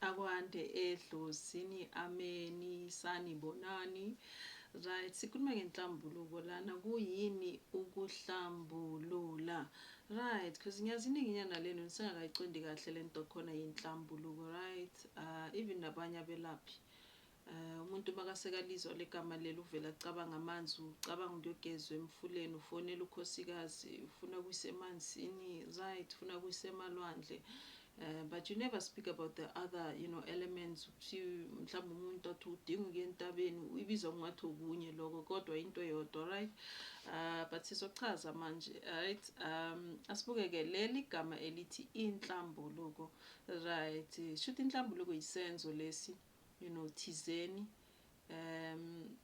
akwande edlozini ameni sanibonani right sikhuluma ngenhlambuluko lana kuyini ukuhlambulula right because ngiyazininginyana lenu nisengakayiqondi kahle lento khona yenhlambuluko right uh, even nabanye abelaphi Umuntu makasekaLizwa legama leli uvele acabange amanzi ucabanga ukuyogezwa emfuleni ufonela ukhosikazi ufuna kuyisa emanzini right ufuna kuyisa emalwandle uh, but you never speak about the other you know elements ukuthi mhlawumbe umuntu athi udinga ukuya entabeni uyibiza kungathi okunye lokho kodwa into eyodwa right uh, but sizochaza manje right um asibukeke leli gama elithi inhlambuluko right shuthi inhlambuluko yisenzo lesi you know thizeni um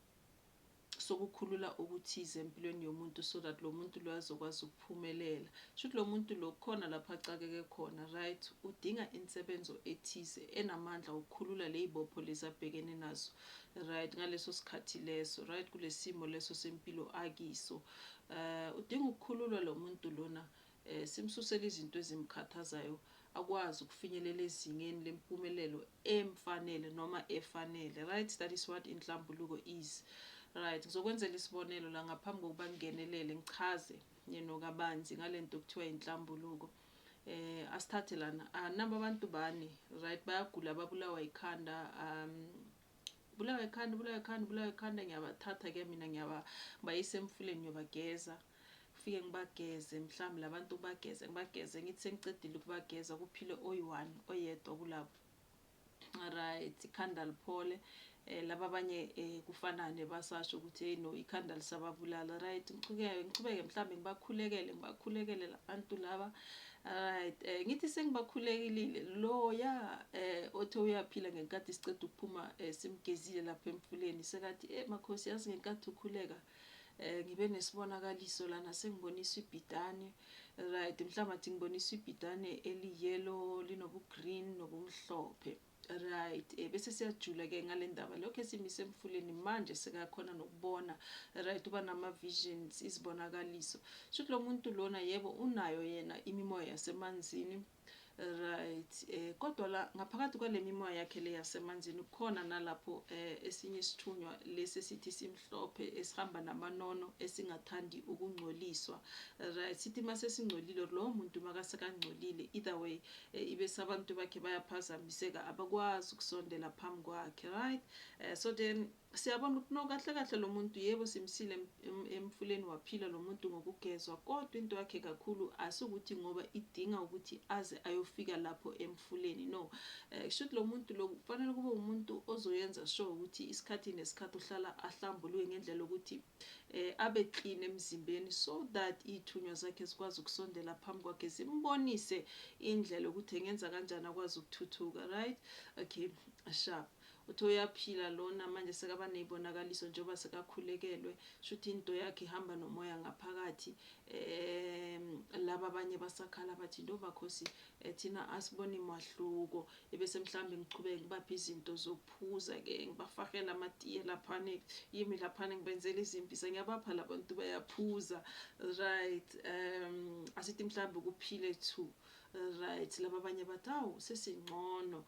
sokukhulula okuthize empilweni yomuntu so that lo muntu lo azokwazi ukuphumelela shuthi lo muntu lo khona lapho acakeke khona right udinga insebenzo ethize enamandla ukukhulula leyibopho lezabhekene nazo right ngaleso sikhathi leso right kulesimo leso sempilo akiso uh udinga ukukhululwa lo muntu lona eh simsusela izinto ezimkhathazayo akwazi ukufinyelela ezingeni lempumelelo emfanele noma efanele right that is what inhlambuluko is right ngizokwenzela isibonelo la ngaphambi kokuba ngingenelele ngichaze you know kabanzi ngalento kuthiwa inhlambuluko eh asithathe lana anaba ah, abantu bani right bayagula babulawa ikhanda um bulawa ikhanda bulawa ikhanda bulawa ikhanda ngiyabathatha ke mina ngiyaba bayise emfuleni ngiyobageza Ngifike ngibageze mhlawumbe labantu ubageze ngibageze ngithi sengiqedile ukubageza kuphile oyi-one oyedwa kulabo right ikhanda liphole eh laba abanye eh kufanane basasho ukuthi hey no ikhanda lisababulala right ngichukeke ngichubeke mhlambe ngibakhulekele ngibakhulekele labantu laba right eh ngithi sengibakhulekile lo ya eh othe uyaphila ngenkathi siceda ukuphuma eh, simgezile lapha emfuleni sekathi eh makhosi yazi ngenkathi ukhuleka eh ngibe nesibonakaliso lana sengiboniswa ibhidane right mhlawumbe athi ngiboniswa ibhidane eli-yellow linobu-green nobumhlophe right eh bese siyajula ke ngale ndaba lokho esimise emfuleni manje sekakhona nokubona right uba nama-visions izibonakaliso shuthi lo muntu lona yebo unayo yena imimoya yasemanzini Right eh kodwa la ngaphakathi kwalemimoya yakhe le yasemanzini kukhona nalapho eh esinye isithunywa lesi sithi simhlophe esihamba namanono esingathandi ukungcoliswa right sithi mase singcolile lo muntu makase kangcolile either way eh, ibe sabantu bakhe bayaphazamiseka abakwazi ukusondela phambi kwakhe right eh, so then Siyabona ukuthi no kahle kahle lomuntu yebo simsile emfuleni waphila lomuntu ngokugezwa kodwa into yakhe kakhulu asukuthi ngoba idinga ukuthi aze ayofika lapho emfuleni no eh, kushuthi lomuntu lo kufanele kube umuntu ozoyenza sure ukuthi isikhathi nesikhathi uhlala ahlambuluke ngendlela ukuthi eh abe clean emzimbeni so that ithunywa zakhe zikwazi ukusondela phambi kwakhe zimbonise indlela ukuthi engenza kanjani akwazi ukuthuthuka right okay sharp Uthe uyaphila lona manje sekaba nezibonakaliso njengoba sekakhulekelwe shuthi into yakhe ihamba nomoya ngaphakathi um laba abanye basakhala bathi ntombakhosi eh, thina asiboni mahluko ebese mhlawumbe ngichubeke ngibaphe izinto zokuphuza ke ngibafakela amatiye laphane yimi laphane ngibenzela izimpisa ngiyabapha labantu bayaphuza right um asithi mhlawumbe kuphile two Right laba abanye bathi awu sesingcono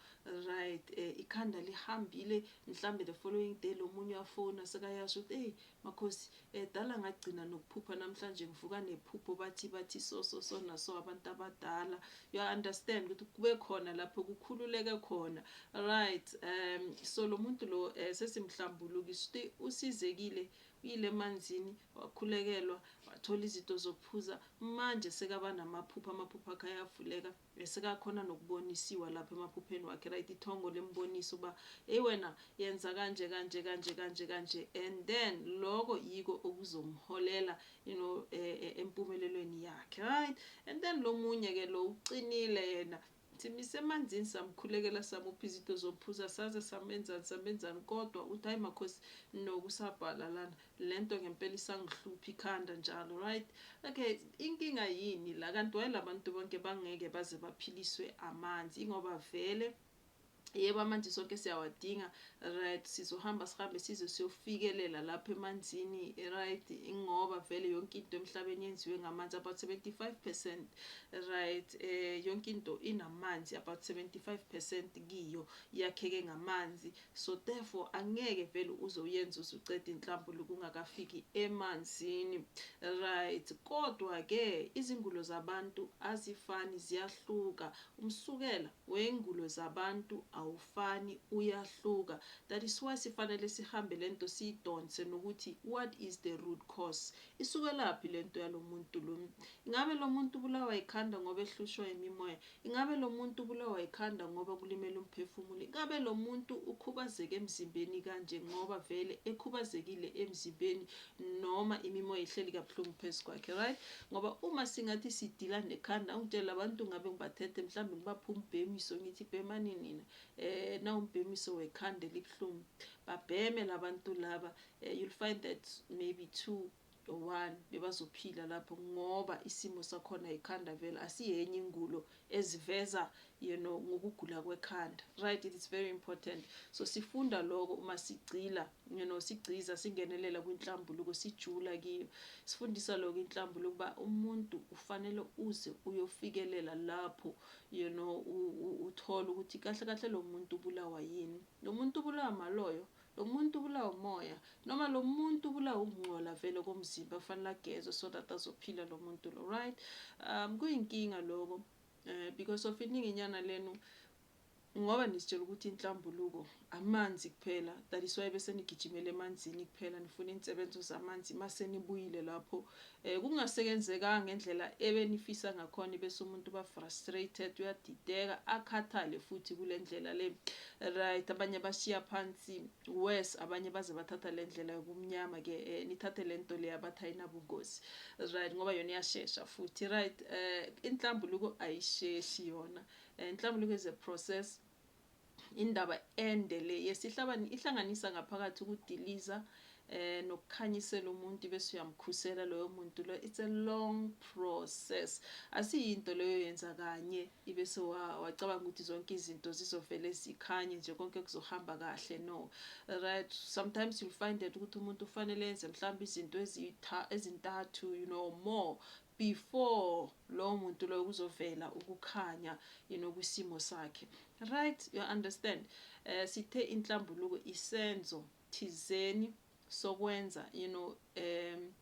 right eh, ikhanda lihambile mhlambe the following day lomunye wafona sekayasho ukuthi hey makhosi eh, dala ngagcina nokuphupha namhlanje ngivuka nephupho bathi bathi so so so naso abantu abadala you understand ukuthi kube khona lapho kukhululeke khona right um so lomuntu lo eh, sesimhlambulukisa ukuthi usizekile Uyile emanzini, wakhulekelwa, wathola izinto zokuphuza, manje sekaba namaphupho, amaphupho akhe ayavuleka, esekakhona nokubonisiwa lapho emaphupheni wakhe, right, ithongo lembonisa uba eyi wena yenza kanje kanje kanje kanje kanje, and then loko yiko okuzomholela you know, eh, eh, empumelelweni yakhe, right. And then lomunye ke lo uqinile yena, Simyise emanzini samkhulekela samupha izinto zophuza saze samenzani samenzani kodwa uthi hayi makhosi no kusabhala lana lento ngempela isangihlupha ikhanda njalo right okay inkinga yini la kanti why labantu bonke bangeke baze baphiliswe amanzi ingoba vele Yebo amanzi sonke siyawadinga right sizohamba sihambe size siyofikelela lapha emanzini right ingoba vele yonke into emhlabeni yenziwe ngamanzi about 75% right eh yonke into inamanzi about 75% kiyo yakheke ngamanzi so therefore angeke vele uze uyenze uzucede inhlambulu kungakafiki emanzini right kodwa ke izingulo zabantu azifani ziyahluka Umsukela wengulo zabantu awufani uyahluka that is why sifanele sihambe lento siyidonse nokuthi what is the root cause isukelaphi lento yalomuntu lo ingabe lomuntu ubulawa yikhanda ngoba ehlushwa yimimoya ingabe lomuntu ubulawa yikhanda ngoba kulimele umphefumulo ingabe lomuntu ukhubazeke emzimbeni kanje ngoba vele ekhubazekile emzimbeni noma imimoya ihleli kabuhlungu phezu kwakhe right ngoba uma singathi sidila nekhanda ungitshela abantu ngabe ngibathethe mhlawumbe ngibapha umbhemiso ngithi bhemani nina eh nawumbhemiso wekhanda elibuhlungu babheme labantu laba eh, you'll find that maybe two or one bebazophila lapho ngoba isimo sakhona ikhanda vele asiyenye ingulo eziveza you know ngokugula kwekhanda right it is very important so sifunda lokho uma sigcila you know sigciza singenelela kwinhlambuluko sijula kiyo sifundisa lokho inhlambuluko ukuba umuntu ufanele uze uyofikelela lapho you know uthola ukuthi kahle kahle lo muntu ubulawa yini lo muntu ubulawa maloyo Lomuntu ubulawa umoya noma lomuntu ubulawa ukungcola vele komzimba kufanele agezwe so that azophila lomuntu lo right um kuyinkinga lokho eh, because of iningi nyana lenu ngoba nisitshela ukuthi inhlambuluko amanzi kuphela that is why bese nigijimela emanzini kuphela nifuna insebenzo zamanzi mase nibuyile lapho Eh kungaseyenzekanga ngendlela ebenifisa ngakhona bese umuntu uba frustrated uyadideka akhathale futhi kule ndlela le right abanye bashiya phansi worse abanye baze bathatha le ndlela yobumnyama ke eh, nithathe le nto le abathi ayinabungozi right ngoba yona iyashesha futhi right eh inhlambuluko ayisheshi yona eh, inhlambuluko is a process Indaba ende le yesihlabani ihlanganisa ngaphakathi ukudiliza eh nokukhanyisela umuntu bese uyamkhusela loyo muntu lo it's a long process asiyinto leyo yenza kanye ibese wacabanga ukuthi zonke izinto zizovele zikhanye nje konke kuzohamba kahle no right sometimes you'll find that ukuthi umuntu ufanele enze mhlawumbe izinto ezintathu you know more before lowo muntu loyo kuzovela ukukhanya you know kwisimo sakhe right you understand uh, sithe inhlambuluko isenzo thizeni sokwenza you know um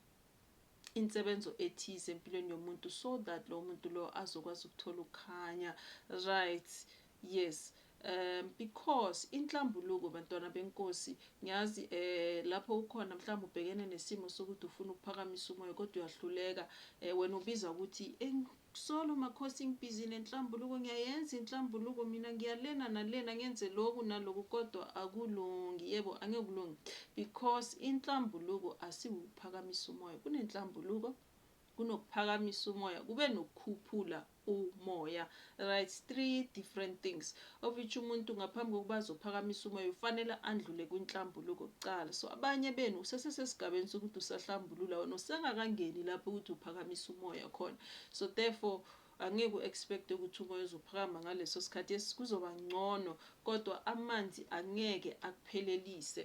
insebenzo ethize empilweni yomuntu so that lo muntu lo azokwazi ukuthola ukukhanya right Yes um because inhlambuluko bantwana benkosi ngiyazi um lapho ukhona mhlawumbe ubhekene nesimo sokuthi ufuna ukuphakamisa umoya kodwa uyahluleka um wena ubiza ukuthi solo makhosi ngibhizile inhlambuluko ngiyayenza inhlambuluko mina ngiyalena nalena ngenze loku naloku kodwa akulungi yebo angeke kulungi because inhlambuluko asiwukuphakamisa umoya kunenhlambuluko kunokuphakamisa umoya kube nokukhuphula umoya right it's three different things of which umuntu ngaphambi kokuba azophakamisa umoya ufanele andlule kwinhlambuluko kuqala so abanye benu usesesesigabeni sokuthi usahlambulula wena usengakangeni lapho ukuthi uphakamisa umoya khona so therefore angeke u-expect ukuthi umoya uzophakama ngaleso sikhathi esikuzoba ngcono kodwa amanzi angeke akuphelelise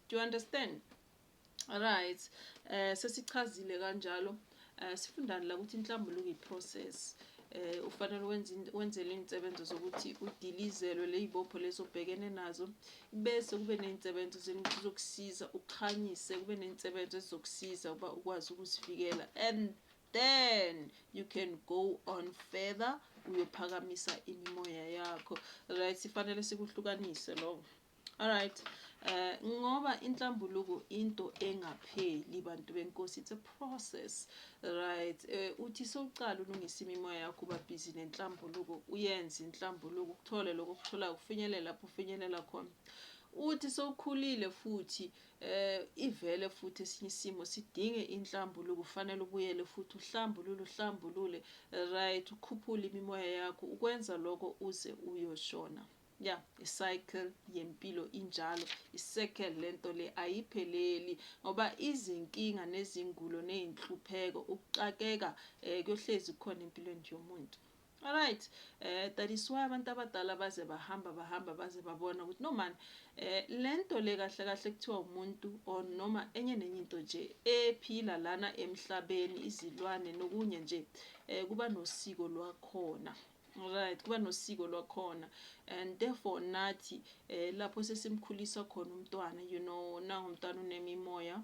do you understand Right eh sesichazile kanjalo eh sifundani la ukuthi inhlambuluko iprocess eh ufanele wenze wenzele izinsebenzo zokuthi udilizelwe lezibopho lezobhekene nazo bese kube nezinsebenzo zokusiza ukhanyise kube nezinsebenzo ezizokusiza ukuba ukwazi ukuzivikela and then you can go on further uyophakamisa imimoya yakho right sifanele sikuhlukanise lokho Alright. Eh ngoba inhlambuluko into engapheli bantu benkosi it's a process right eh uthi soqala ulungisa imimoya yakho uba busy nenhlambuluko uyenze inhlambuluko ukuthole lokho okutholayo kufinyelela lapho ufinyelela khona uthi sowukhulile futhi eh ivele futhi esinye isimo sidinge inhlambuluko kufanele ubuyele futhi uhlambulule uhlambulule right ukhuphule imimoya yakho ukwenza lokho uze uyoshona Ya, i-cycle yempilo injalo, i-circle lento le ayipheleli ngoba izinkinga nezingulo nezinhlupheko ukuxakeka eh kuyohlezi kukhona empilweni nje yomuntu. Alright, eh that is why abantu abadala baze bahamba bahamba baze babona ukuthi no man eh lento le kahle kahle kuthiwa umuntu or noma enye nenye into nje ephila lana emhlabeni izilwane nokunye nje eh kuba nosiko lwakhona. Right kuba nosiko lwakhona and therefore nathi eh lapho sesimkhulisa khona umntwana you know nangu umntwana unemimoya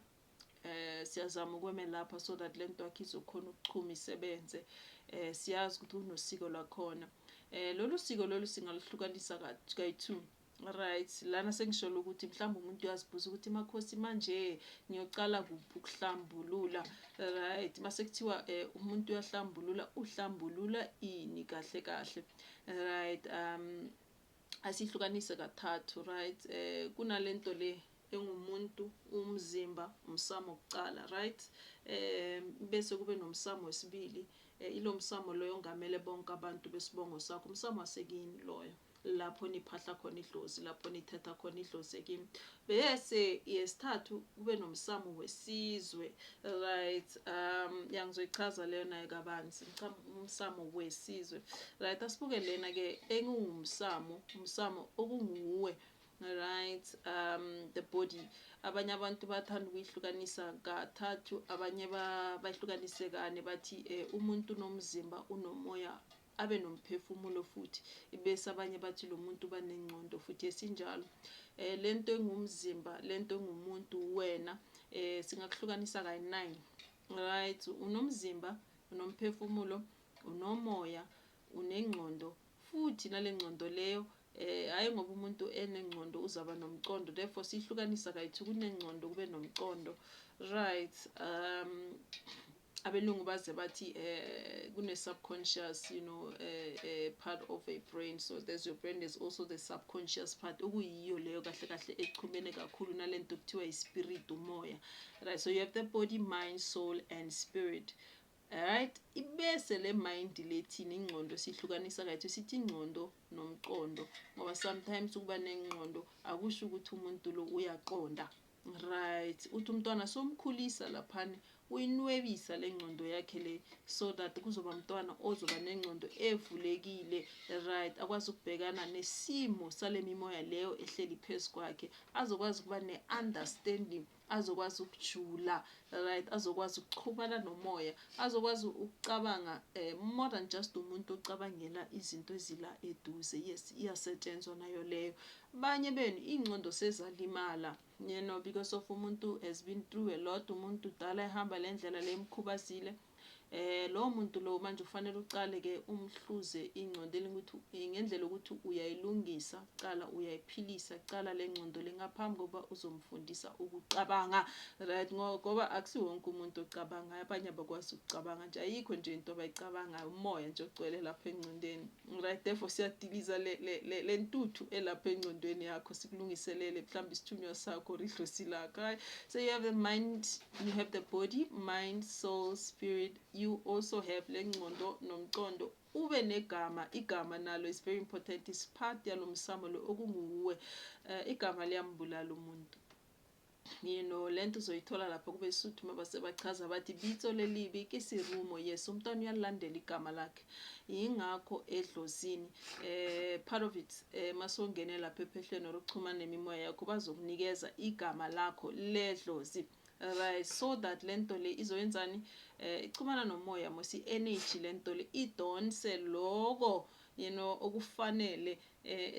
eh siyazama ukwemelapha so that lento yakhe izokhona ukuchuma isebenze eh siyazi ukuthi unosiko lwakhona eh lolu siko lolu singaluhlukanisa kayi-two Right lana sengisholo ukuthi mhlawumbe umuntu uyazibuza ukuthi makhosi manje ngiyocala kuphi ukuhlambulula right mase kuthiwa eh, umuntu uyahlambulula uhlambulula ini kahle kahle right um asihlukanise kathathu right eh kunalento le engumuntu umzimba umsamo wokuqala right eh bese kube nomsamo wesibili eh, ilo msamo loyo ongamele bonke abantu besibongo sakho umsamo wasekini loyo lapho niphahla khona idlozi lapho nithetha khona idlozi kimi bese yesithathu kube nomsamo wesizwe right um yangizoyichaza leyo naye kabanzi umsamo wesizwe right asibuke lena ke engungumsamo umsamo okunguwe right um the body abanye abantu bathanda ukuyihlukanisa kathathu abanye bayihlukanise kane bathi um umuntu unomzimba unomoya abe nomphefumulo futhi ibese abanye bathi lo muntu uba nengcondo futhi esinjalo eh lento engumzimba lento engumuntu wena eh singakuhlukanisa kayi-9 right unomzimba unomphefumulo unomoya unengcondo futhi nale ngcondo leyo Eh hayi ngoba umuntu enengcondo uzaba nomcondo therefore sihlukanisa kayithi kunengcondo kube nomcondo right um abelungu baze bathi eh kune subconscious you know eh, eh part of a brain so there's your brain there's also the subconscious part okuyiyo leyo kahle kahle echumene kakhulu nalento kuthiwa ispirit umoya right so you have the body mind soul and spirit right ibese le mind lethini ingqondo sihlukanisa kayithi sithi ingqondo nomqondo ngoba sometimes ukuba nengqondo akusho ukuthi umuntu lo uyaqonda right uthi umntwana somkhulisa laphana uyinwebisa le ngqondo yakhe le so that kuzoba mntwana ozoba nengqondo evulekile right akwazi ukubhekana nesimo sale mimoya leyo ehleli phezu kwakhe azokwazi ukuba ne-understanding azokwazi ukujula right azokwazi ukuxhumana nomoya azokwazi ukucabanga um more than just umuntu ocabangela izinto ezila eduze yes iyasetshenzwa nayo leyo abanye benu iy'ngcondo sezalimala you know because of umuntu has been through a lot umuntu dala ehamba le ndlela le mkhubazile Eh lowo muntu lowo manje ufanele uqale ke umhluze ingcondo elingukuthi eh, ngendlela ukuthi uyayilungisa kuqala uyayiphilisa kuqala le ngcondo lengaphambi kokuba uzomfundisa ukucabanga right ngoba akusiwonke umuntu ocabangayo abanye abakwazi ukucabanga nje ayikho nje into abayicabangayo umoya nje ogcwele lapha engcondeni Right therefore siyadiliza le, le, le, le ntuthu elapha engcondweni yakho sikulungiselele mhlawumbe isithunywa sakho or idlosi lakho right so you have the mind you have the body mind soul spirit you also have le ngcondo nomcondo ube negama igama nalo is very important is part yalo msamo lo okunguwe uh, igama liyambulala umuntu You know, le nto uzoyithola lapha kubesuthu uma basebachaza bathi bitso lelibi kisirumo. Yes, umntwana uyalilandela igama lakhe. Yingakho edlozini eh part of it eh masongene lapha ephehlweni or ukuchuma nemimoya yakho bazokunikeza igama lakho ledlozi. Right, so that le nto le izoyenzani eh ichumana nomoya mosi energy le nto le idonse loko you know okufanele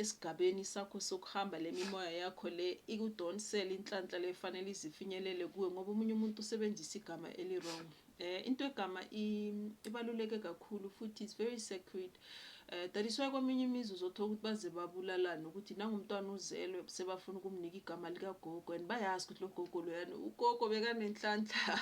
esigabeni sakho sokuhamba le mimoya yakho le ikudonsele inhlanhla le fanele izifinyelele kuwe ngoba omunye umuntu usebenzisa igama eli-wrong eh into egama ibaluleke kakhulu futhi is very sacred eh that is why kweminye imizi uzothola ukuthi baze babulalane ukuthi nangumntwana uzelwe sebafuna ukumnika igama likagogo and bayazi ukuthi lo gogo loyana ugogo bekanenhlanhla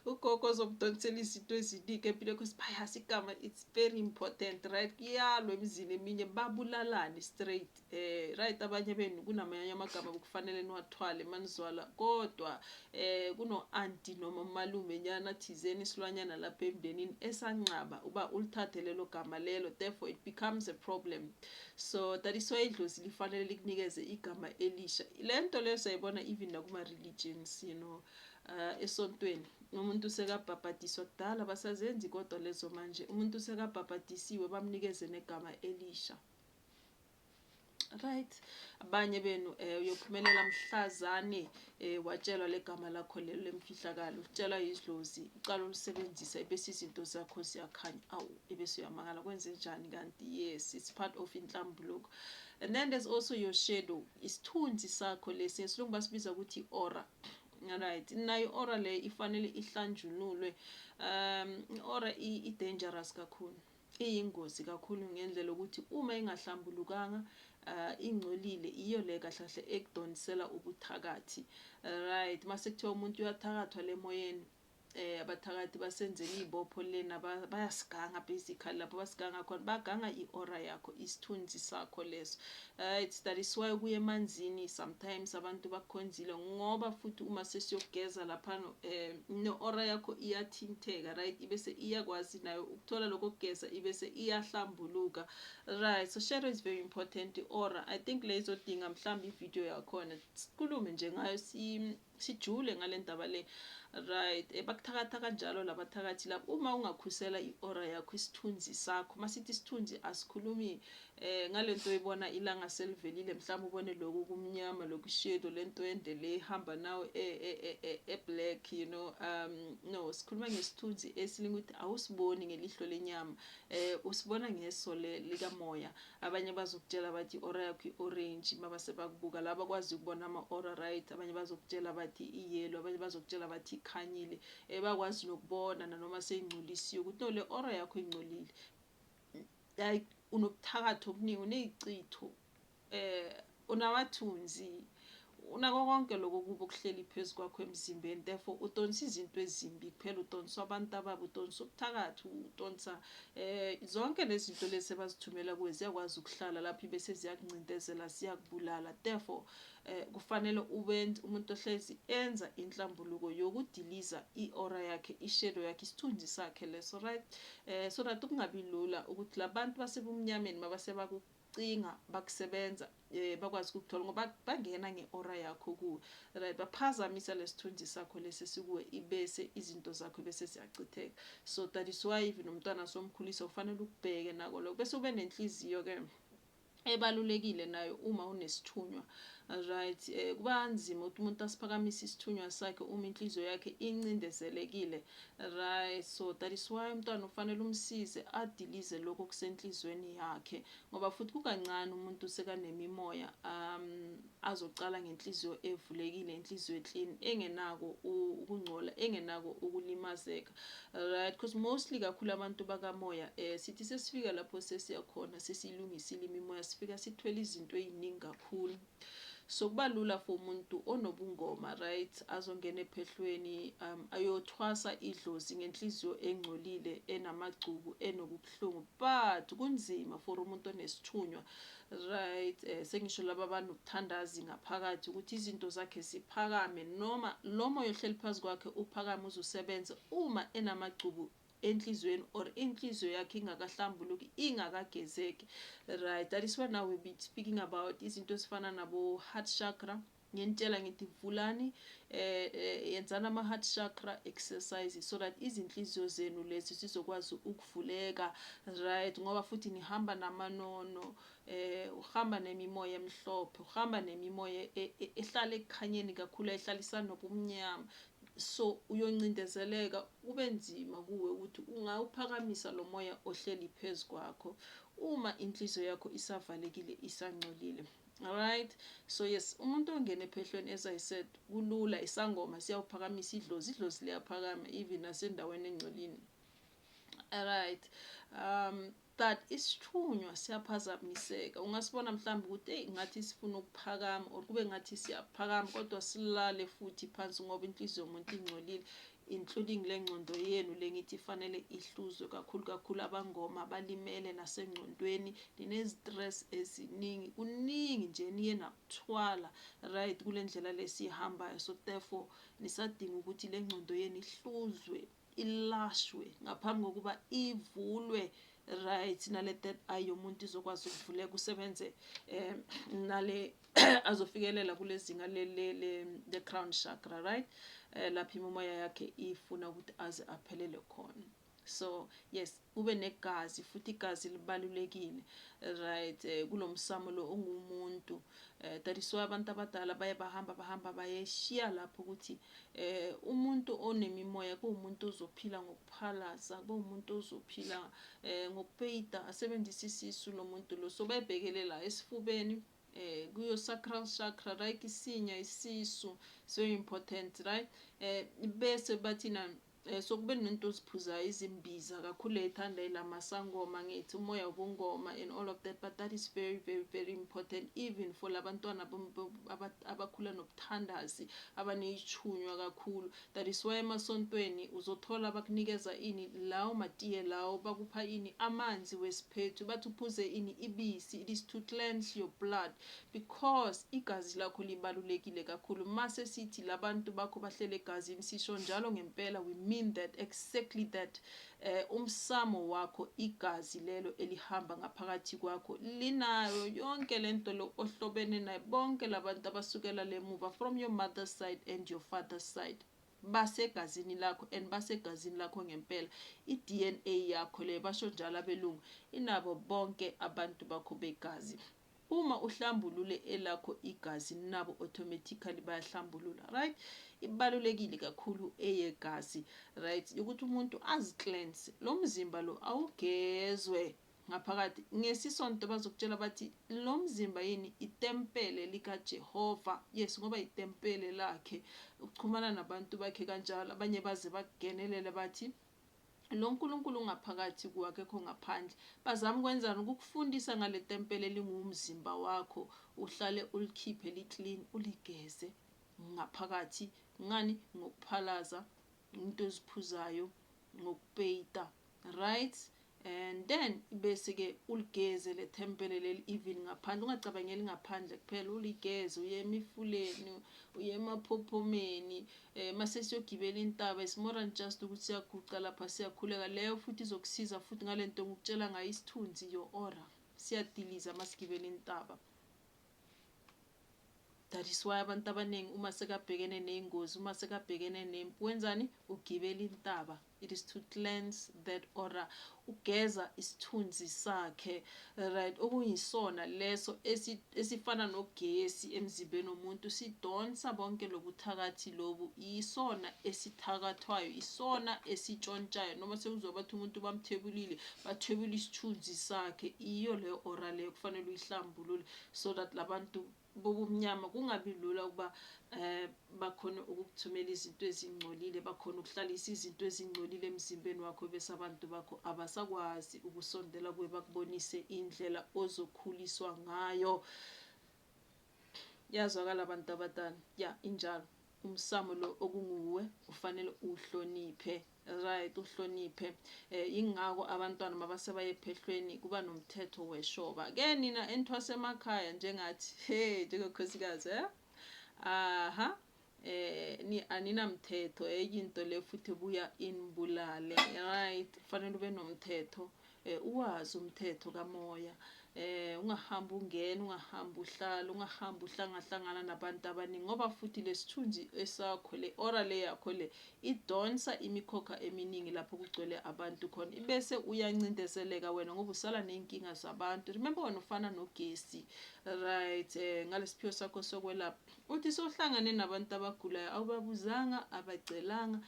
ugogo ozomdonsela izinto eziningi empilweni because bayazi igama it's Very important right kuyalwa emzini eminye babulalane straight eh right abanye benu kunamanye amagama kufanele niwathwale manizwala kodwa eh kuno aunti noma malume nyana thizeni isilwanyana lapha emndenini esanqaba uba ulithathe lelo gama lelo therefore it becomes a problem so that is why idlozi lifanele likunikeze igama elisha lento leyo sayibona even nakuma religions you know uh esontweni Umuntu sekabhabhadiswa kudala abasazenzi kodwa lezo manje umuntu sekabhabhadisiwe bamnikeze negama elisha right abanye benu um eh, uyophumelela mhlazane um eh, watshelwa legama lakho lelo lemfihlakalo utshelwa yidlozi uqala ulisebenzisa ebese izinto zakho ziyakhanya awu ebese uyamangala kwenze njani kanti yes it's part of inhlambuluko and then there's also your shadow isithunzi sakho lesi ngesilungu basibiza ukuthi i-ora Right, nayo i-ora le ifanele ihlanjululwe. Um, i-ora i-dangerous kakhulu, iyingozi kakhulu ngendlela ukuthi uma ingahlambulukanga uh, ingcolile iyo le kahle kahle ekudonsela ubuthakathi. Right, mase kuthiwa umuntu uyathakathwa le moyeni eh abathakathi basenzela izibopho lena bayasiganga basically lapho basiganga khona baganga iora yakho isithunzi sakho leso uh, it's that is why kuye emanzini sometimes abantu bakhonzile ngoba futhi uma sesiyogeza lapha um eh, neora yakho iyathinteka right ibese iyakwazi nayo ukuthola lokho kugeza ibese iyahlambuluka right so shadow is very important iora i think leyizodinga mhlawumbe ividiyo yakhona sikhulume nje ngayo sijule ngalendaba le right eh, bakuthakatha kanjalo labathakathi labo uma ungakhusela iora yakho isithunzi sakho masithi isithunzi asikhulumi eh ngalento oyibona ilanga selivelile mhlawumbe ubone lokhu kumnyama lokhu shadow lento ende le ihamba nawo e, e, e, e, e black you know um no sikhuluma ngesithunzi esilinga ukuthi awusiboni ngelihlo lenyama eh usibona ngeso likamoya Abanye bazokutshela bathi ora yakho i-orange maba sebakubuka laba kwazi ukubona ama-ora right abanye bazokutshela bathi iyelo abanye bazokutshela bathi ikhanyile um bakwazi nokubona nanoma seyingcolisiwe ukuthi no le ora yakho ingcolile like unobuthakathi obuningi uney'chitho um Unamathunzi, unako konke lokho kubi okuhleli phezu kwakho emzimbeni, therefore udonsa izinto ezimbi kuphela, udonsa abantu ababi, udonsa ubuthakathi, udonsa eh zonke lezinto lezi ebazithumela kuwe ziyakwazi ukuhlala lapho ibese ziyakuncindezela, ziyakubulala. Therefore eh kufanele ube umuntu ohlezi enza inhlambuluko yokudiliza i-aura yakhe, ishadow yakhe, isithunzi sakhe leso right eh so that kungabi lula ukuthi labantu basebumnyameni mabase baku cinga bakusebenza eh, bakwazi ukukuthola ngoba bangena ngeora yakho kuwe right baphazamisa lesithunzi sakho lesi sikuwe ibese izinto zakho bese ziyachitheka so that is why even umntwana somkhulisa ufanele ukubheke nako lokho bese ube nenhliziyo ke ebalulekile nayo uma unesithunywa right eh, kuba nzima ukuthi umuntu asiphakamise isithunywa sakhe uma inhliziyo yakhe incindezelekile Right so that is why umntwana ufanele umsize adilize lokho kusenhlizweni yakhe ngoba futhi kukancane umuntu sekanemimoya um azocala ngenhliziyo evulekile inhliziyo eclean engenako ukungcola engenako ukulimazeka right because mostly kakhulu abantu bakamoya eh sithi sesifika lapho sesiyakhona sesilungisile imimoya sifika sithwele izinto eziningi kakhulu So kuba lula for umuntu onobungoma right azongena ephehlweni um, ayothwasa idlozi ngenhliziyo engcolile enamagcubu enokubuhlungu but kunzima for umuntu onesithunywa right eh, sengisho laba banokuthandazi ngaphakathi ukuthi izinto zakhe ziphakame noma lo moya ohleli phezu kwakhe uphakame uzusebenze uma enamagcubu enhlizweni or inhliziyo yakhe ingakahlambuluki ingakagezeki right that is why now we be speaking about izinto ezifana nabo heart chakra nginitshela ngithi vulani eh, eh yenzani ama heart chakra exercises so that izinhliziyo zenu lezi sizokwazi ukuvuleka right ngoba futhi nihamba namanono eh uhamba nemimoya emhlophe uhamba nemimoya e, e, ehlala ekukhanyeni kakhulu ehlalisana nobumnyama So uyoncindezeleka kube nzima kuwe ukuthi ungawuphakamisa lo moya ohleli phezu kwakho uma inhliziyo yakho isavalekile isangcolile. Alright, so yes, umuntu ongena ephehlweni as I said kulula isangoma siyawuphakamisa idlozi, idlozi liyaphakama even nasendaweni engcolile. Alright, um But isithunywa siyaphazamiseka ungasibona mhlawumbe ukuthi eyi ngathi sifuna ukuphakama or kube ngathi siyaphakama kodwa silale futhi phansi ngoba inhliziyo yomuntu ingcolile including le ngqondo yenu le ngithi ifanele ihluzwe kakhulu kakhulu abangoma balimele nasengqondweni ninezistress eziningi kuningi nje niye nakuthwala right kule ndlela lesiyihambayo so therefore nisadinga ukuthi le ngqondo yenu ihluzwe ilashwe ngaphambi kokuba ivulwe right nale third eye yomuntu izokwazi ukuvuleka kusebenze um nale azofikelela kule zinga le crown chakra right um lapho imomoya yakhe ifuna ukuthi aze aphelele khona so yes Ube negazi futhi igazi libalulekile right eh, kulomsamo lo ungumuntu eh, that is why abantu abadala baye bahamba bahamba bayeshiya lapho ukuthi eh umuntu onemimoya kuwumuntu ozophila ngokuphalaza kuwumuntu ozophila eh ngokupeyita asebenzisa isisu lomuntu lo so bayebhekele la esifubeni eh kuyo sacral chakra right isinya isisu so important right eh bese bathina Eh, so kube nento oziphuzayo izimbiza kakhulu eyithanda ilamasangoma ngithi umoya wobungoma and all of that but that is very very very important even for labantwana abakhula nobuthandazi abaneyichunywa kakhulu that is why emasontweni uzothola bakunikeza ini lawo matiye lawo bakupha ini amanzi wesiphethu bathi uphuze ini ibisi it is to cleanse your blood Because igazi lakho libalulekile kakhulu mase sithi labantu bakho bahleli egazini sisho njalo ngempela we mean that exactly that eh umsamo wakho igazi lelo elihamba ngaphakathi kwakho linayo yonke lento lo ohlobene naye bonke labantu abasukela lemuva from your mother's side and your father's side basegazini lakho and basegazini lakho ngempela iDNA yakho le basho njalo abelungu inabo bonke abantu bakho begazi Uma uhlambulule elakho igazi nabo automatically bayahlambulula right ibalulekile kakhulu eyegazi right yokuthi umuntu azi cleanse lo mzimba lo awugezwe ngaphakathi ngesisonto bazokutshela bathi lo mzimba yini itempele likaJehova yes ngoba itempele lakhe ukuxhumana nabantu bakhe kanjalo abanye baze bakugenelele bathi Lo Nkulunkulu ungaphakathi kuwe, akekho ngaphandle. Bazama ukwenzani? Ukukufundisa ngale tempele elinguwumzimba wakho, uhlale ulikhiphe li-clean, uligeze ngaphakathi. Ngani? Ngokuphalaza, into eziphuzayo, ngokupeyita. Right? And then bese ke uligeze le tempele leli even ngaphandle ungacabangeli ngaphandle kuphela uligeze uye emifuleni uye emaphophomeni eh mase siyogibela intaba is more than just ukuthi siyaguqa lapha siyakhuleka leyo futhi izokusiza futhi ngalento ngikutshela ngayo isithunzi your aura siyadiliza masigibela intaba That is why abantu abaningi uma sekabhekene ney'ngozi, uma sekabhekene nempi wenzani? Ugibela intaba. It is to cleanse that aura, ugeza isithunzi sakhe right, okuyisona leso esifana nogesi emzimbeni womuntu, sidonsa bonke lobuthakathi lobu, isona esithakathwayo, isona esitshontshayo. Noma sekuzwa bathi umuntu bamthebulile, bathwebula isithunzi sakhe iyo leyo ora leyo kufanele uyihlambulule so that labantu bobumnyama kungabi lula ukuba eh bakhona ukukuthumela izinto ezingcolile bakhona ukuhlalisa izinto ezingcolile emzimbeni wakho bese abantu bakho abasakwazi ukusondela kuwe bakubonise indlela ozokhuliswa ngayo yazwakala abantu abadala ya injalo umsamo lo okunguwe ufanele uhloniphe right uhloniphe eh ingako abantwana mabasebaye phehlweni kuba nomthetho weshoba ke nina enthwase emakhaya njengathi he njengokhosikazi eh aha eh ni aninamthetho eyinto eh, le futhi buya inibulale right fanele ube nomthetho um uwazi umthetho kamoya um ungahambi ungena ungahambi uhlala ungahambi uhlangahlangana nabantu abaningi ngoba futhi lesithunzi esakho le ora le yakho le idonsa imikhokha eminingi lapho kugcwele abantu khona ibese uyancindezeleka wena ngoba usala ney'nkinga zabantu remember wena ufana nogesi right um eh, ngalesiphiwo sakho sokwelapha uthi sohlangane nabantu abagulayo awubabuzanga abacelanga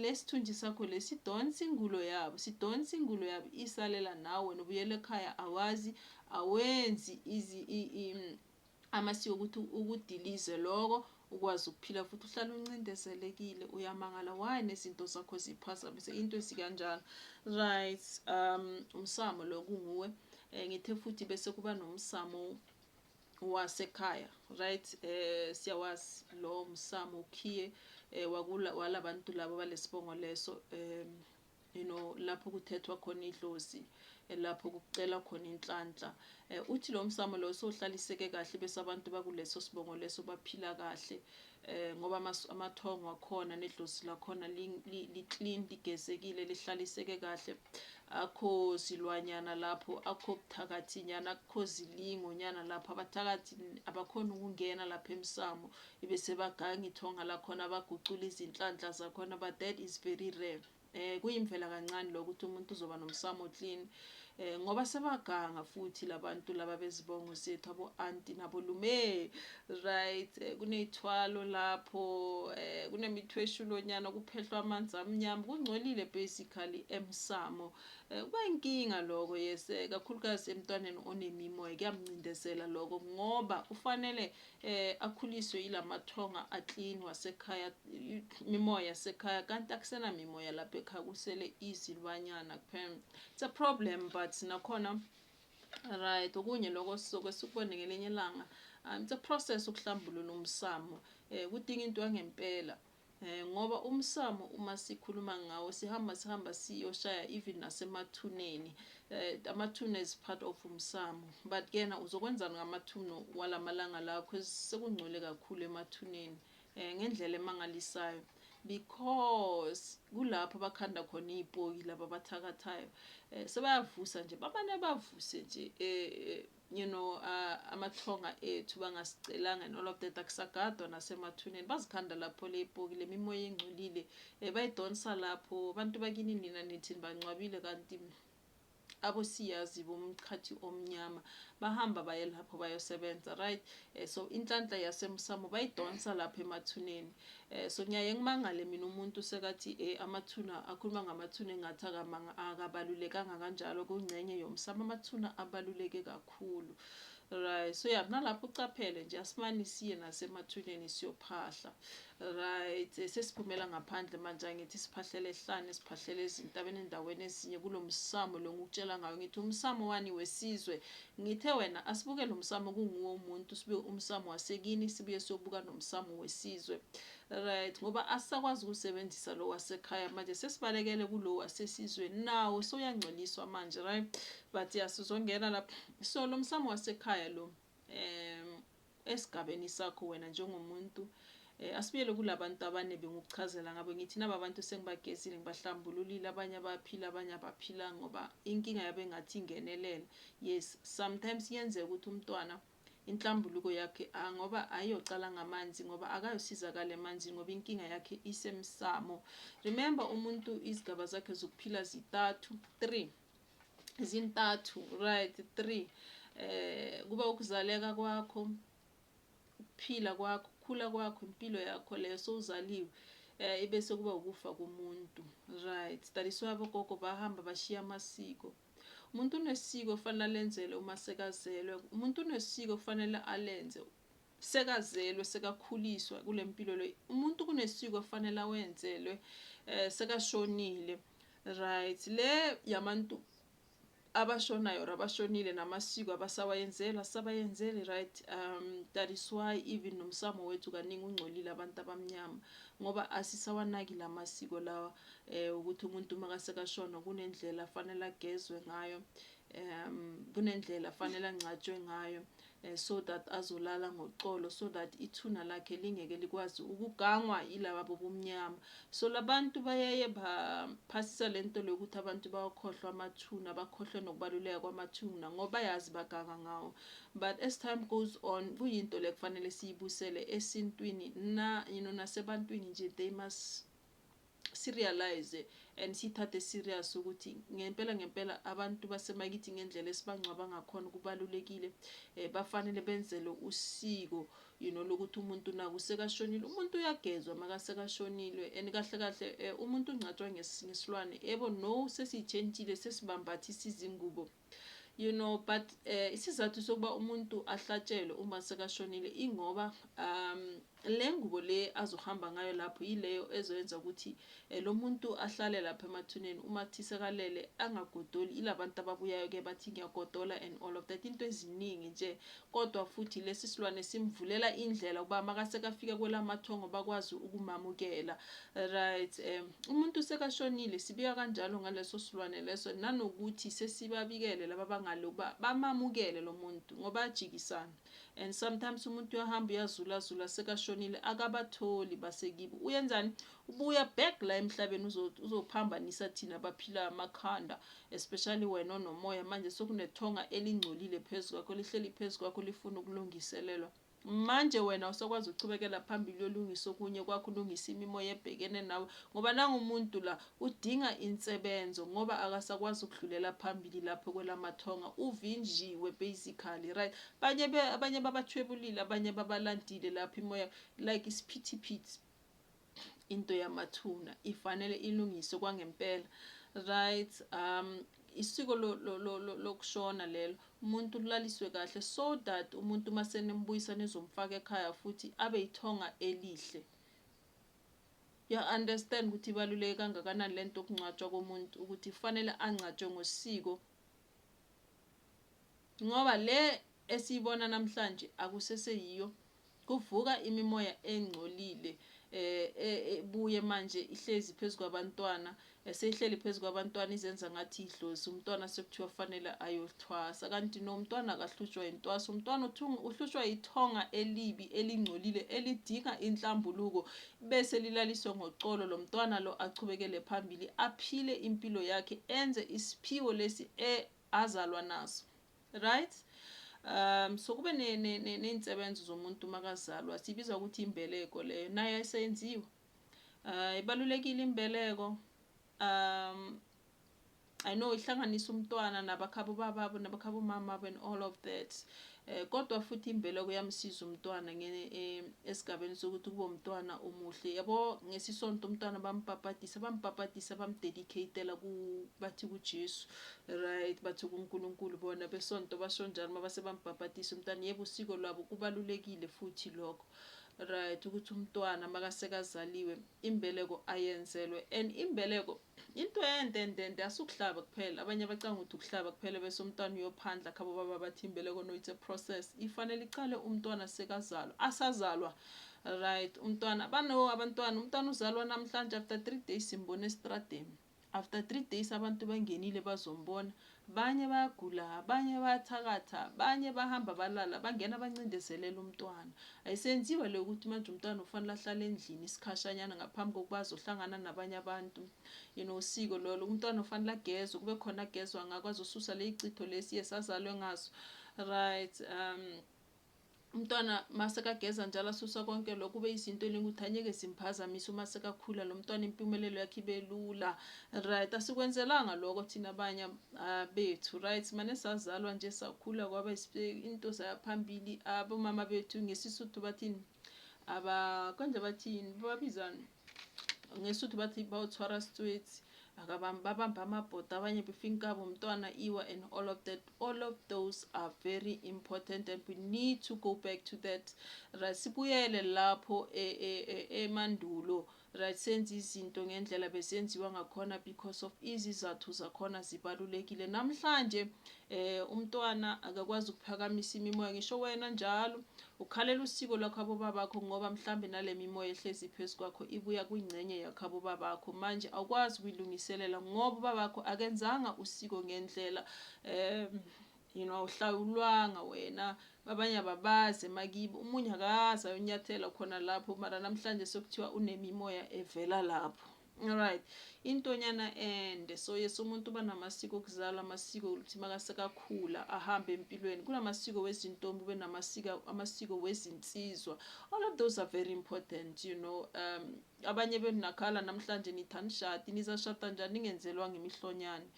Lesithunzi sakho lesi sidonsa ingulo yabo sidonsa ingulo yabo isalela nawe wena ubuyela ekhaya awazi awenzi izi i, i, amasiko ukuthi ukudilize loko ukwazi ukuphila futhi uhlala uncindezelekile uyamangala why nezinto zakho ziphazamise into esikanjalo right um umsamo lo kunguwe um ngithe futhi bese kuba nomsamo wasekhaya right eh siyawazi lo msamo ukhiye eh, wakula walabantu labo balesibongo leso um you know lapho kuthethwa khona idlozi eh, lapho kucela khona inhlanhla eh, uthi lo msamo lo sohlaliseke kahle bese abantu bakuleso sibongo leso baphila kahle eh ngoba amathongo akhona nedlozi lakhona li-clean ligezekile lihlaliseke kahle akho silwanyana lapho akho buthakathi nyana akho zilingo nyana lapho abathakathi abakhona ukungena lapha emsamo ibe sebaganga ithonga lakhona bagucula izinhlanhla zakhona but that is very rare eh kuyimvela kancane lokho ukuthi umuntu uzoba nomsamo clean eh ngoba sebaganga futhi labantu laba bezibongo sethu abo anti nabo lume right eh, kuneyithwalo lapho eh kunemithweshulonyana kuphehlwa amanzi amnyama kungcolile basically emsamo eh, kuba inkinga lokho yes eh, kakhulukazi emntwaneni onemimoya kuyamncindezela lokho ngoba ufanele eh akhuliswe yilamathonga aclean wasekhaya mimoya yasekhaya kanti akusena mimoya lapha ekhaya kusele izilwanyana kuphela it's a problem but nakhona right okunye lokho sizoke sikubone ngelinye ilanga um, it's a process ukuhlambulula umsamo um kudinga into yangempela ngoba umsamo uma sikhuluma ngawo sihamba sihamba siyoshaya even nasemathuneni uh, amathuna is part of umsamo but kena uzokwenzani ngamathuno walamalanga lawo because sekungcwele kakhulu emathuneni um ngendlela emangalisayo because kulapho bakhanda khona iy'poki laba abathakathayo um sebayavusa nje bamane bavuse nje um You know amathonga ethu bangasicelanga and all of that akusagadwa nasemathuneni bazikhanda lapho lepoki lemimoya engcolile eh, bayidonsa lapho abantu bakini nina nithi nibancwabile kanti abo siyazi bomchathi omnyama bahamba baye lapho bayosebenza right eh, so inhlanhla yasemsamo bayidonsa lapho emathuneni Eh so ngiyaye ngimangale mina umuntu sekathi eh amathuna akhuluma ngamathuna engathi akamanga akabalulekanga kanjalo kungcenye yomsamo amathuna abaluleke kakhulu right so yeah nalapho ucaphele nje asimani siye nasemathuneni siyophahla right eh, sesiphumela ngaphandle manje angithi siphahlele ehlane siphahlele ezintabeni endaweni ezinye kulomsamo lo ngikutshela ngayo ngithi umsamo wani wesizwe Ngithe wena asibuke lomsamo kunguwe umuntu sibuye umsamo wasekini sibuye siyobuka nomsamo wesizwe right ngoba asisakwazi ukusebenzisa lo wasekhaya manje sesibalekele kulo wasesizweni nawo soyangcoliswa manje right but yasizongena lapha so lomsamo wasekhaya lo um esigabeni sakho wena njengomuntu eh, asibuyele kulabantu abane bengukuchazela ngabo ngithi naba bantu sengibagezile ngibahlambululile abanye abaphila abanye abaphila ngoba inkinga yabe ngathi ingenelela yes sometimes yenzeka ukuthi umntwana inhlambuluko yakhe ah, ngoba ayiyocala ngamanzi ngoba akayosizakala emanzini ngoba inkinga yakhe isemsamo remember umuntu izigaba zakhe zokuphila zitathu three zintathu right three eh kuba ukuzaleka kwakho ukuphila kwakho ukukhula kwakho impilo yakho leyo sowuzaliwe eh ibe sekuba ukufa komuntu right that is why abogogo bahamba bashiya amasiko umuntu unesiko kufanele alenzele uma sekazelwe umuntu unesiko kufanele alenze sekazelwe sekakhuliswa kulempilo le umuntu kunesiko afanele awenzelwe eh sekashonile right le yamantu abashonayo abashonile namasiko abasawayenzela sabayenzeli right um that is why even nomsamo wethu kaningi ungcolile abantu abamnyama ngoba asisawanaki la masiko lawa eh ukuthi umuntu makasekashona kunendlela afanele agezwe ngayo um kunendlela afanele angcatshwe ngayo eh, so that azolala ngoxolo so that ithuna lakhe lingeke likwazi ukugangwa yilaba bobumnyama so labantu bayaye baphasisa lento lokuthi abantu bawakhohlwa amathuna bakhohlwe nokubaluleka kwamathuna ngoba yazi baganga ngawo but as time goes on kuyinto le kufanele siyibusele esintwini na you know nasebantwini nje they must si realize and siyithathe serious ukuthi ngempela ngempela abantu basemakithi ngendlela esibangcwaba ngakhona kubalulekile eh bafanele benzele usiko you know lokuthi umuntu naku sekashonile umuntu uyagezwa makasekashonile and kahle kahle eh, umuntu ungcatshwa ngesilwane yebo no sesiyitshentshile sesibambathisa izingubo You know but eh, isizathu sokuba umuntu ahlatshelwe uma sekashonile ingoba um le ngubo le azohamba ngayo lapho yileyo ezoyenza ukuthi eh, lo muntu ahlale lapha emathuneni uma kuthi sekalele angagodoli ilabantu ababuyayo ke bathi ngiyagodola and all of that into eziningi nje Kodwa futhi lesi silwane simvulela indlela ukuba makasekafika kwelamathongo bakwazi ukumamukela. Right, um, umuntu sekashonile sibika kanjalo ngaleso silwane leso nanokuthi sesibabikele laba bangale ukuba bamamukele lo muntu ngoba ajikisana. And sometimes umuntu uyahamba uyazulazula sekashonile akabatholi basekibo. Uyenzani? Ubuya back la emhlabeni uzophambanisa thina baphila amakhanda. especially wena onomoya manje sokunethonga elingcolile phezu kwakho lihleli phezu kwakho lifuna ukulungiselelwa manje wena usokwazi ukuchubekela phambili uyolungisa okunye kwakho ulungisa imimoya ebhekene nawe ngoba nangumuntu la udinga insebenzo ngoba akasakwazi ukudlulela phambili lapho kwelamathonga uvinjiwe basically right abanye abanye babathwebulile abanye babalandile lapho imoya like isiphithiphithi into yamathuna ifanele ilungiswe kwangempela right um isiko lokushona lelo umuntu ulaliswe kahle so that umuntu uma senimbuyisa nizomfaka ekhaya futhi abe yithonga elihle ya understand ukuthi ibaluleke kangakanani lento okungcwatshwa komuntu ukuthi kufanele angcatshwe ngosiko Ngoba le esiyibona namhlanje akusese yiyo kuvuka imimoya engcolile eh, eh, ebuye manje ihlezi phezu kwabantwana eseyihleli phezu kwabantwana izenza ngathi idlozi umntwana sekuthiwa fanele ayothwasa kanti no umntwana akahlutshwa yintwasa umntwana uhlutshwa yithonga elibi elingcolile elidinga inhlambuluko Bese lilaliswe ngoxolo lomtwana lo achubekele phambili aphile impilo yakhe enze isiphiwo lesi e azalwa naso. Right? Um so kube ne, ne, ne, neyinsebenzo zomuntu makazalwa sibiza ukuthi imbeleko leyo nayo ayisenziwa. Uh ibalulekile imbeleko. Um I know ihlanganisa umntwana nabakhabo bababo nabakhabo mamabo and all of that eh, kodwa futhi imbela kuyamsiza umntwana eh, esigabeni sokuthi kube umntwana omuhle yabo ngesisonto umntwana bampapatisa bampapatisa bamdedicatela bathi kujesu right bathi kunkulunkulu bona besonto basho njalo uma base bampapatisa umntwana yebo usiko lwabo kubalulekile futhi lokho right ukuthi umntwana makasekazaliwe imbeleko ayenzelwe and imbeleko Into ende ndende asukuhlaba kuphela abanye abacanga ukuthi ukuhlaba kuphela bese umntwana uyophandla khabo baba bathi imbeleko no it's a process ifanele iqale umntwana sekazalwa asazalwa right umntwana bano abantwana umntwana uzalwa namhlanje after 3 days simbone estradeni after 3 days abantu bangenile bazombona Banye bayagula banye bayathakatha banye bahamba balala bangena bancindezelele umntwana. Ayisenziwa le ukuthi manje umntwana ufanele ahlale endlini isikhashanyana ngaphambi kokuba azohlangana nabanye abantu. You know usiko lolo umntwana ufanele agezwe kube khona agezwa ngakho azosusa leyicitho lesi yes azalwe ngaso. Right um Umntwana masekageza njalo asusa konke lokho kube izinto eningi ukuthi anyeke zimphazamisa uma sekakhula lo mntwana impumelelo yakhe ibe lula right asikwenzelanga lokho thina abanye ah, bethu right mane sazalwa nje sakhula kwaba into zayaphambili abomama bethu ngesisuthu bathini aba konje bathini babizana ngesuthu bathi bawuthwara sitswetsi akabambi babamba amabhoda abanye befinkabo umntwana iwa and all of that all of those are very important and we need to go back to that right sibuyele lapho e- e- e- emandulo right senza izinto ngendlela besenziwa ngakhona because of izizathu zakhona zibalulekile namhlanje eh umntwana akakwazi ukuphakamisa imimoya ngisho wena njalo Ukhalela usiko lwakhabo babakho ngoba mhlambe nalemimoya ehlezi phezu kwakho ibuya kwingcenye yakhabo babakho manje awukwazi ukuyilungiselela ngoba ubabakho akenzanga usiko ngendlela um you know awuhlawulwanga wena abanye ababazi emakibo umunye akazi ayonyathela khona lapho mara namhlanje sekuthiwa unemimoya evela lapho Alright intonyana ende so yes umuntu uba namasiko okuzalwa amasiko ukuthi makasekakhula ahambe empilweni kunamasiko wezintombi ube namasiko amasiko wezinsizwa all of those are very important you know um abanye benakhala namhlanje nithanda ishadi nizashada njani ningenzelwanga imihlonyane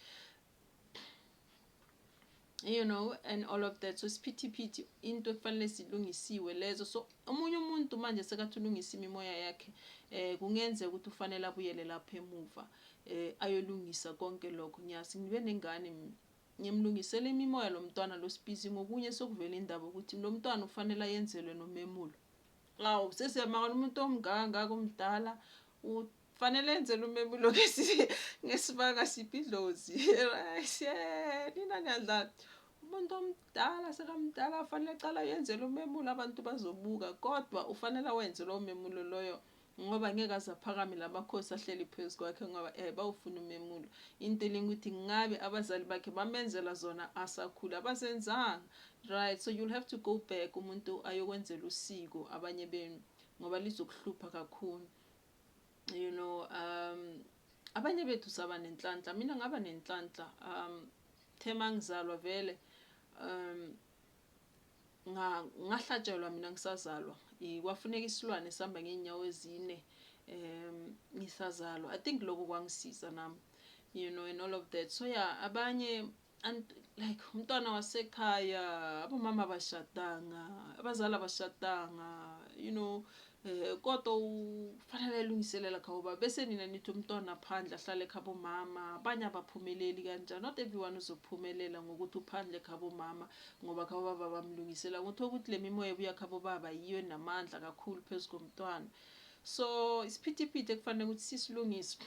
you know and all of that so isiphithiphithi into ekufanele silungisiwe lezo so omunye umuntu manje sekathi ulungisa imimoya yakhe eh kungenzeka ukuthi ufanele abuyele lapha emuva eh ayolungisa konke lokho ngiyazi ngibe nengane ngimlungisele imimoya lo mntwana lo sibizi ngokunye sokuvela indaba ukuthi lo mntwana ufanele ayenzelwe nomemulo awu sesiyamakala umuntu omngangaka omdala Fanele enzele umemulo ngesibanga siphi idlozi right yeah nina niyadlala umuntu omdala sekamdala afanele aqala yenzele umemulo abantu bazobuka kodwa ufanele wenze lowo memulo loyo ngoba ngeke aze aphakame lamakhosi ahleli phezu kwakhe ngoba eh bawufuna umemulo into elinga ukuthi ngabe abazali bakhe bamenzela zona asakhula abazenzanga right so you'll have to go back umuntu ayokwenzela usiko abanye benu ngoba lizokuhlupha kakhulu you know um abanye bethu saba nenhlanhla mina ngaba nenhlanhla um the mangizalwa vele um ngahlatshelwa mina ngisazalwa kwafuneka isilwane sihamba ngeenyawo ezine um ngisazalwa i think lokho kwangisiza nami you know and all of that so yeah abanye And like umntwana wasekhaya abomama abashadanga abazali abashadanga you know eh kodwa ufanele elungiselela khawuba bese nina nithi umntwana phandle ahlale khabo mama abanye abaphumeleli kanjani not everyone uzophumelela ngokuthi uphandle khabo mama ngoba khabo baba bamlungisela ngothola ukuthi le mimoya ebuya khabo baba yiyo namandla kakhulu phezu komntwana so isiphithiphithi ekufanele ukuthi sisilungise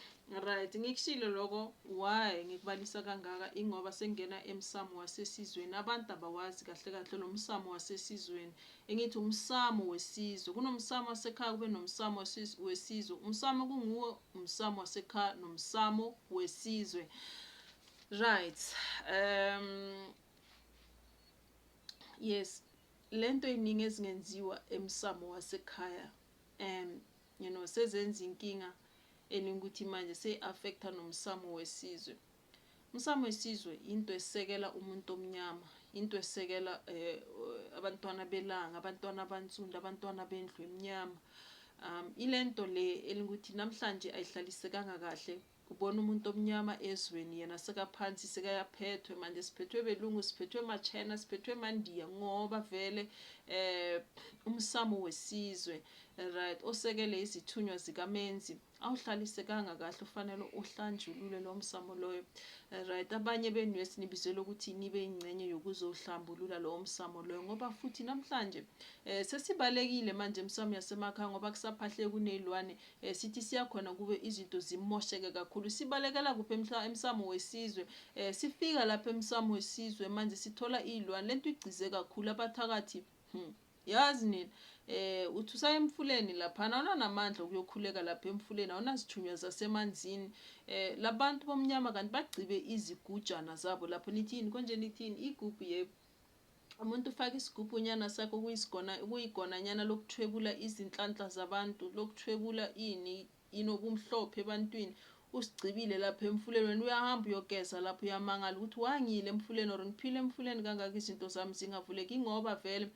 right ngikushilo loko why ngikubalisa kangaka ingoba sengena emsamo wasesizweni abantu abawazi kahle kahle lo msamo wasesizweni engithi umsamo wesizwe kunomsamo wasekhaya kube nomsamo wesizwe umsamo kunguwo umsamo wasekhaya nomsamo wesizwe right um yes Lento iningi ezingenziwa emsamo wasekhaya and you know sezenza inkinga eningi ukuthi manje seyi affecta nomsamo wesizwe. Umsamo wesizwe into esekela umuntu omnyama, into esekela eh, abantwana belanga, abantwana abansundu, abantwana bendlu emnyama. Um ilento le elingukuthi namhlanje ayihlalisekanga kahle Kubona umuntu omnyama ezweni yena sekaphansi sekayaphethwe manje siphethwe belungu siphethwe machina siphethwe mandiya ngoba vele eh umsamo wesizwe right osekele izithunywa zikamenzi awuhlalisekanga kahle ufanele uhlanjulule lo msamo loyo right abanye benu esinibizelwe ukuthi nibe ingcenye yokuzohlambulula lo msamo loyo ngoba futhi namhlanje eh sesibalekile manje emsamo yasemakhaya ngoba kusaphahle kunezilwane Eh sithi siya khona kube izinto zimosheke kakhulu. Sibalekela kuphi emhla emsamo wesizwe? Eh sifika lapha emsamo wesizwe manje sithola izilwane. Lento igcize kakhulu abathakathi. Hmm. Yazi nina eh uthi usaye emfuleni laphana awunanamandla okuyokhuleka lapha emfuleni awunazithunywa zasemanzini eh labantu bomnyama kanti bagcibe izigujana zabo lapho nithini konje nithini igubhu yebo Umuntu ufaka isigubhunyana sakhe okuyisigona okuyigonanyana lokuthwebula izinhlanhla zabantu lokuthwebula ini ini okumhlophe ebantwini usigcibile lapha emfuleni wena uyahamba uyogeza lapho uyamangala ukuthi wangile emfuleni or ngiphile emfuleni kangaka izinto zami zingavuleki ngoba vele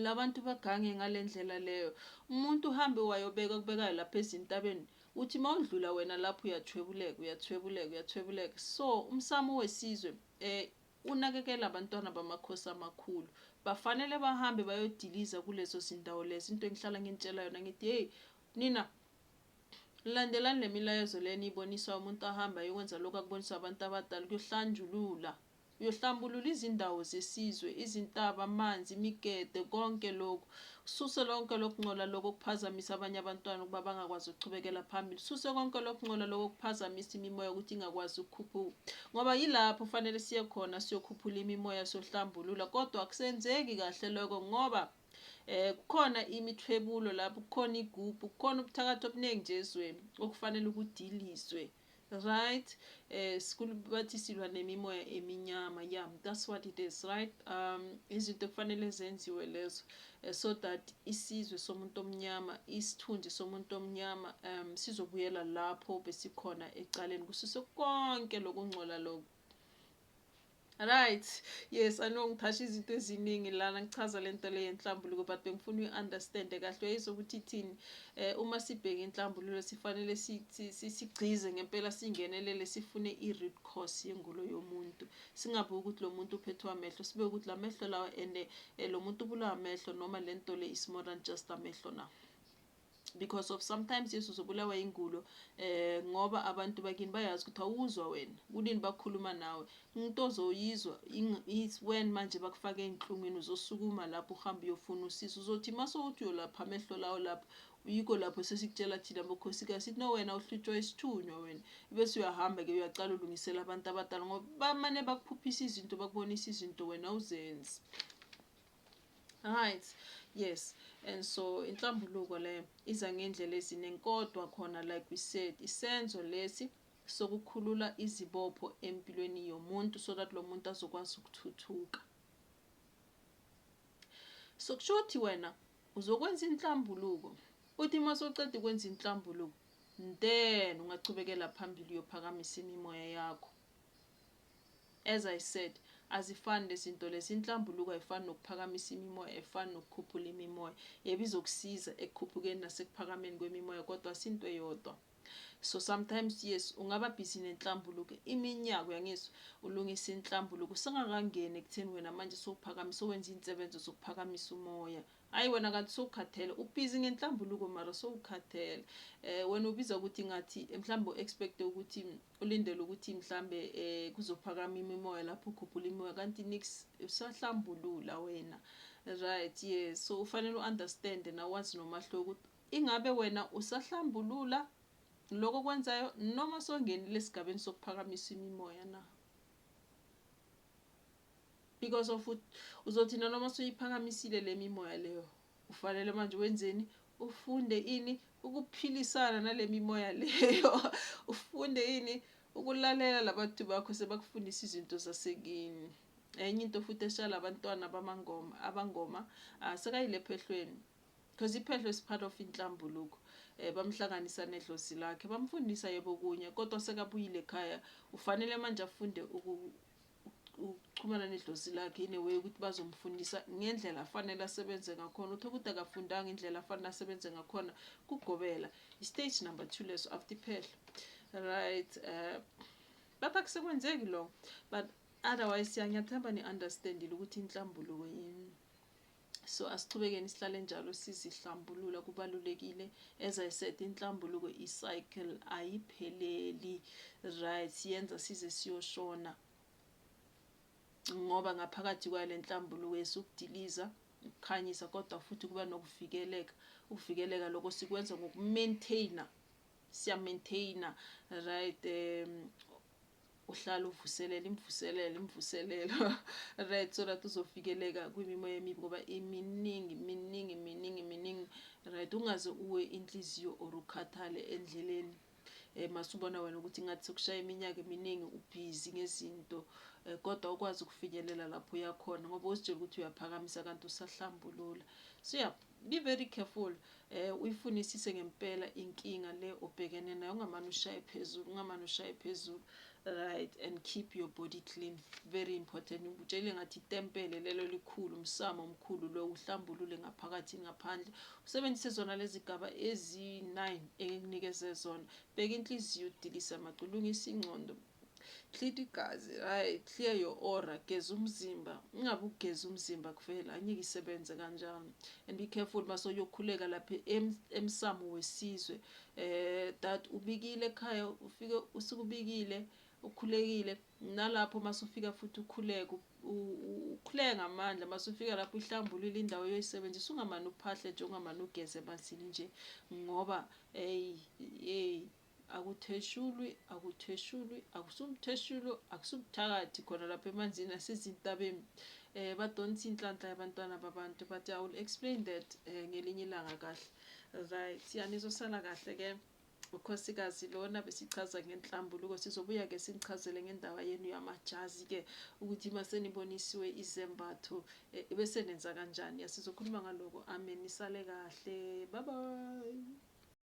labantu bagange ngalendlela leyo umuntu uhambe wayobeka kubekayo lapha ezintabeni uthi mawudlula wena lapho uyathwebuleka uyathwebuleka uyathwebuleka so umsamo wesizwe eh Unakekela abantwana bamakhosi amakhulu. Bafanele bahambe bayodiliza kulezo zindawo lezo. Into engihlala nginitshela yona ngithi hey nina landelani le milayezo le niyibonisa umuntu ahamba ayokwenza lokho akuboniswa abantu abadala kuyohlanjulula uyohlambulula izindawo zesizwe izintaba amanzi imigede konke lokhu Suse lonke lokungcola lokho kuphazamisa abanye abantwana ukuba bangakwazi ukuchubekela phambili. Suse konke lokungcola lokho kuphazamisa imimoya ukuthi ingakwazi ukukhuphuka. Ngoba yilapho fanele siye khona siyokhuphula imimoya sohlambulula kodwa akusenzeki kahle lokho ngoba eh kukhona imithwebulo lapho kukhona igubhu kukhona ubuthakathi obuningi nje ezweni okufanele ukudiliswe Right school bathi silwa nemimoya eminyama yeah that's what it is right um izinto kufanele zenziwe lezo eh, so that isizwe somuntu omnyama isithunzi somuntu omnyama um sizobuyela lapho besikhona ecaleni kusiso konke lokungcola lokho Right. Yes, I know ngithasha izinto eziningi lana ngichaza lento le yenhlambuluko but bengifuna uyi-understand kahle uyayizwa ukuthi ithini eh uma sibheka inhlambululo sifanele sigcize ngempela singenelele sifune i-root cause yengulo yomuntu singabe ukuthi lo muntu uphethwe amehlo sibe ukuthi la mehlo lawa and eh, lo muntu ubulawa amehlo noma lento le is more than just amehlo na because of sometimes yesu uzobulawa ingulo eh ngoba abantu bakini bayazi ukuthi awuzwa wena kunini bakhuluma nawe umuntu ozoyizwa when manje bakufaka enhlungwini uzosukuma lapho uhamba uyofuna usizo uzothi mase uthi uyolapha amehlo lawo lapho yiko lapho sesikutshela thina bokhosikazi sithi no wena uhlutshwa isithunywa wena bese uyahamba ke uyaqala ulungisela abantu abadala ngoba bamane bakuphuphisa izinto bakubonisa izinto wena uzenzi Right. Yes. And so inhlambuluko le iza ngendlela eziningi kodwa khona like we said isenzo lesi sokukhulula izibopho empilweni yomuntu so that lo muntu azokwazi ukuthuthuka. So kusho ukuthi wena uzokwenza inhlambuluko uthi uma soceda ukwenza inhlambuluko then ungachubekela phambili uyophakamisa imimoya yakho As I said azifani lezinto lezi inhlambuluko ayifani nokuphakamisa imimoya ayifani nokukhuphula imimoya yebo izokusiza ekukhuphukeni nasekuphakameni kwemimoya kodwa asinto eyodwa so sometimes yes ungaba busy nenhlambuluko iminyaka uyangizwa ulungisa inhlambuluko usengakangeni ekutheni wena manje sowuphakamisa owenza iy'nsebenzo zokuphakamisa umoya Ayi wena kanti sowukhathele u busy ngenhlambuluko mara sowukhathele eh wena ubiza ukuthi ngathi mhlambe u expect ukuthi ulindele ukuthi mhlambe eh kuzophakama imimoya lapho ukhuphula imimoya kanti nix usahlambulula wena right yes so ufanele u understand na wazi nomahluko ukuthi ingabe wena usahlambulula lokho kwenzayo noma songenile esigabeni sokuphakamisa imimoya na because of ukuthi uzothina noma suyiphakamisile le mimoya leyo ufanele manje wenzeni ufunde ini ukuphilisana nale mimoya leyo ufunde ini ukulalela labantu bakho sebakufundisa izinto zasekini enye into futhi eshala abantwana bamangoma abangoma ah, sekayilephehlweni Cause iphehlo is part of inhlambuluko eh, bamhlanganisa nedlozi lakhe bamfundisa yebo kunye kodwa sekabuyile ekhaya ufanele manje afunde ukuxhumana nedlozi lakhe in a way ukuthi bazomfundisa ngendlela afanele asebenze ngakhona uthe ukuthi akafundanga indlela afanele asebenze ngakhona kugobela istage number two leso after iphehlo right uh, but akusekwenzeki lo but otherwise siyangiyathemba ni-understandile ukuthi inhlambuluko yini So asichubekeni sihlale njalo sizihlambulula kubalulekile as I said inhlambuluko i-cycle ayipheleli right siyenza size siyoshona ngoba ngaphakathi kwayo le nhlambuluko esukudiliza ukukhanyisa kodwa futhi kuba nokuvikeleka ukuvikeleka lokho sikwenza ngokumaintaina siya-maintaina right um uhlala uvuselela imvuselelo imvuselelo right so that uzovikeleka kwimimoya emibi ngoba iminingi miningi miningi miningi right ungaze uwe inhliziyo or ukhathale endleleni eh masubona wena ukuthi ngathi sokushaya iminyaka eminingi ubhizi ngezinto eh, kodwa ukwazi ukufinyelela lapho uyakhona ngoba uzitshela ukuthi uyaphakamisa kanti usahlambulula so yeah Be very careful eh uyifunisise ngempela inkinga le obhekene nayo ungamane ushaye phezulu ungamane ushaye phezulu right and keep your body clean very important ngikutshele ngathi itempele lelo likhulu umsamo omkhulu lo uhlambulule ngaphakathi ngaphandle usebenzise zona lezigaba ezi9 engikunikeze zona bheka inhliziyo udilisa amacu lungisa ingqondo Hlita igazi right clear your aura geza umzimba ungabe ugeza umzimba kuvela anyike isebenze kanjalo and be careful base uyokhuleka lapha emsamo wesizwe eh that ubikile ekhaya ufike usukubikile ukhulekile nalapho masufika futhi ukhuleke ukhuleke ngamandla masufika lapho ihlambulile indawo yoyisebenzisa ungamane uphahle nje ungamane ugeze emanzini nje ngoba hey hey Akutheshulwi, akutheshulwi, akusumtheshulo, akusubuthakathi khona lapha emanzini asezintabeni. Eh badonsa inhlanhla yabantwana babantu but I will explain that eh, ngelinye ilanga kahle. Right, yanizosala kahle ke. ukhosikazi lona besichaza ngenhlambuluko sizobuya ke sinichazele ngendawo yenu yamajazi ke ukuthi uma senibonisiwe izembatho eh, bese nenza kanjani sizokhuluma ngaloko amen nisale kahle bye bye